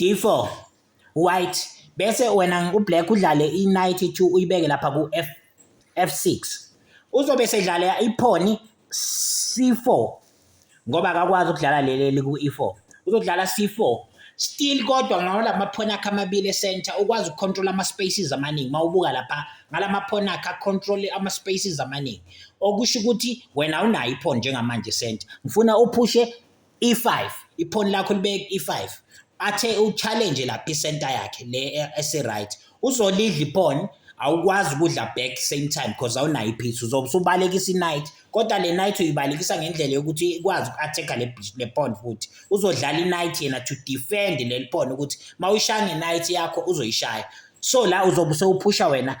D4 white bese wena ublack udlale i-knight 2 uyibeke lapha ku-f f6 uzobe sedlala i-pawn c4 ngoba akakwazi ukudlala leli ku-e4 uzodlala c4 still kodwa ngawona maphoni akhe amabili esenta ukwazi ukucontrola ama-spaces amaningi uma ubuka lapha ngala maphoni akhe acontrole ama-spaces amaningi okusho ukuthi wena awunayo iphoni njengamanje esenta ngifuna uphushe E5 iphoni lakho libeke E5 athe uchallenge lapha isenta yakhe le ese right uzolidla iphone awukwazi ukudla back same time because awunayo iphitha uzobe usubalekisa i-night kodwa le night uyibalekisa ngendlela yokuthi ikwazi uku-attack-a le pawn futhi uzodlala i-night yena to defend leli pawn ukuthi uma uyishaya nge-night yakho uzoyishaya so la uzobe sewuphusha wena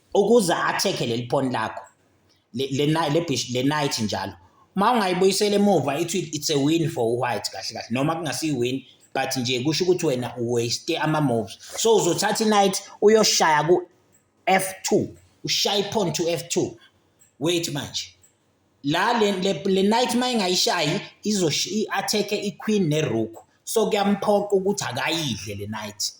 ukuze athekhe leli phone lakho le le night le bish le night njalo uma ungayibuyisela emuva ithi it's a win for white kahle kahle noma kungasi win but nje kusho ukuthi wena uwaste ama moves so uzothatha inight uyoshaya ku F2 ushaya iphone to F2 wait manje La le le le knight uma ingayishayi izosho i-attack-e i-queen ne-rook, so kuyamphoqa ukuthi akayidle le knight.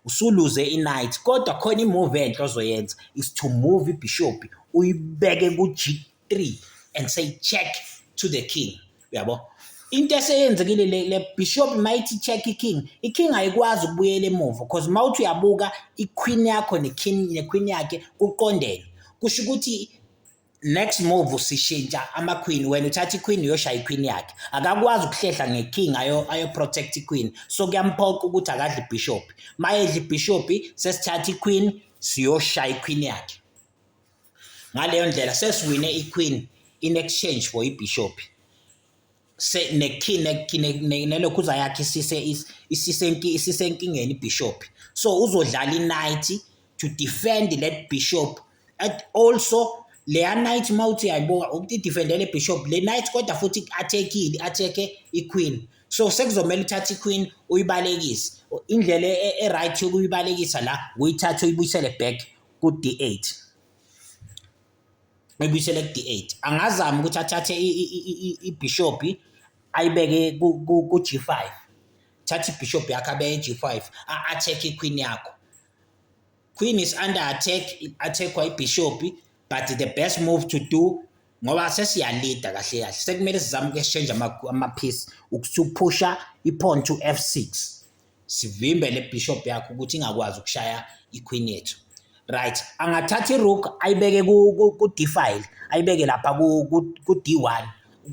Usuluze i-knight kodwa khona i-move enhle ozoyenza is to move i-bishop uyibeke ku-G3 and say check to the king. Uyabo? Into eseyenzekile le le bishop mayithi check i-king, i-king ayikwazi ukubuyela emuva because mawuthi uyabuka i-queen yakho ne-king ne-queen yakhe kuqondene. Kusho ukuthi next move usishintsha ama-queen wena uthatha i-queen uyoshaya i-queen yakhe akakwazi ukuhlehla nge-king ayoprotect i-queen so kuyamphoqa ukuthi akadle ibhishophi uma edla ibhishophi sesithatha i-queen siyoshaya i-queen yakhe ngaleyo ndlela sesiwine i-queen in exchange for ibhishophi se nelokhuza yakhe isisenkingeni ibishop so uzodlala inight to defend le bishop and also leya night mawuthi yayibuka ukuthi idefendele bishop le night kodwa futhi athekile atheke iqueen so sekuzomela uthathe iqueen uyibalekise indlela e-right yokuyibalekisa la uyithathe uyibuyisele back ku-d8 ebuyisele ku-d8 angazama ukuthi athathe ibhishobhi ayibeke ku-g5 thatha ibhishobhi yakho abeke i-g5 a-attack iqueen yakho queen is under attack i-attackwa ibhishobhi but the best move to do ngoba sesiyalida kahle kahle sekumele sizame uku-exchange amaphisi ukusuphusha i-pawn to f6 sivimbe le bishop yakho ukuthi ingakwazi ukushaya iqueen yethu right angathatha irook ayibeke ku-d file ayibeke lapha ku-d one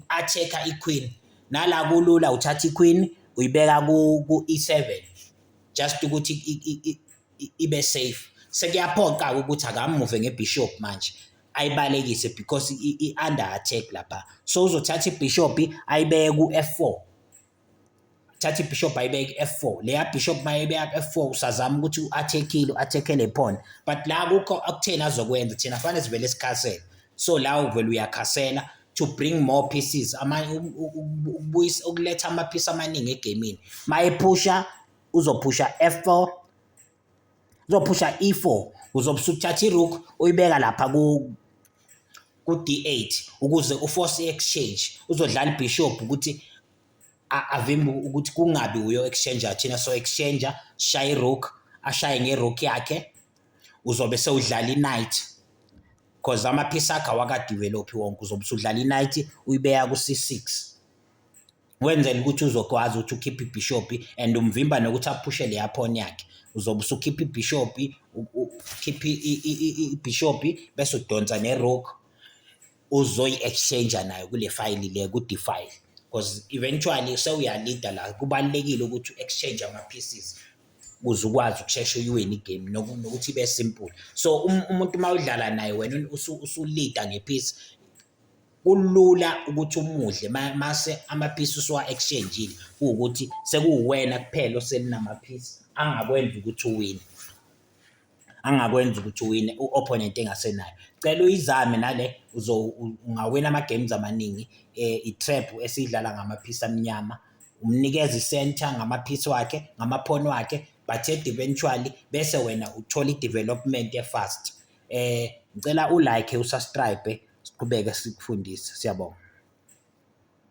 a-check-a iqueen nala kulula uthatha iqueen uyibeka ku-e seven just ukuthi ibe safe sekuyaphoqa-ke ukuthi akamuve ngebishop manje ayibalekise because i-under attack lapha so uzothatha ibishop ayibeke ku-f four thatha ibishop ayibeke f4 leya bishop mayebeka f4 usazama ukuthi u-attackile u-attackele phone but la kukho akutheni azokwenza thina fanele sivele sikhasele so la uvele uyakhasela to bring more pieces ukubuyisa ukuletha amaphisi amaningi egamini mayephusha uzophusha f4 uzophusha e4 uzobe usuthatha irook uyibeka lapha ku ku d8 ukuze uforce i-exchange uzodlala ibishop ukuthi avimbe ukuthi kungabi uyo exchange thina so exchange shaye rook ashaye ngerook yakhe uzobe sewudlala i-night because amaphisi akhe awakadevelophi wonke uzobe usudlala i-night uyibeka ku-c6 wenzela ukuthi uzokwazi ukuthi ukhiphe ibhishopi and umvimba nokuthi aphushe leya phone yakhe uzobe usukhipha ibhishopi ukhiphe ibhishopi bese udonsa nerock uzoyi-exchange nayo kule fayili le ku-defile because eventually sewuyalida la kubalulekile ukuthi u-exchange ama-pieces ukuze ukwazi ukushesha uyiwini igame nokuthi ibe simple so um, umuntu uma udlala naye wena usulida ngephisi kulula ukuthi umudle mase amaphisi usuwa exchangeile ukuthi sekuwena kuphela oselinamaphisi angakwenza ukuthi uwine angakwenza ukuthi uwine u-opponent engasenayo cela uyizame nale ungawina ama-games amaningi um i-trap esiyidlala ngamaphisi amnyama umnikeza i-center ngamaphisi wakhe ngamaphoni wakhe but eventually bese wena uthola i-development efast Eh ngicela u like u subscribe siqhubeke sikufundise. Siyabonga.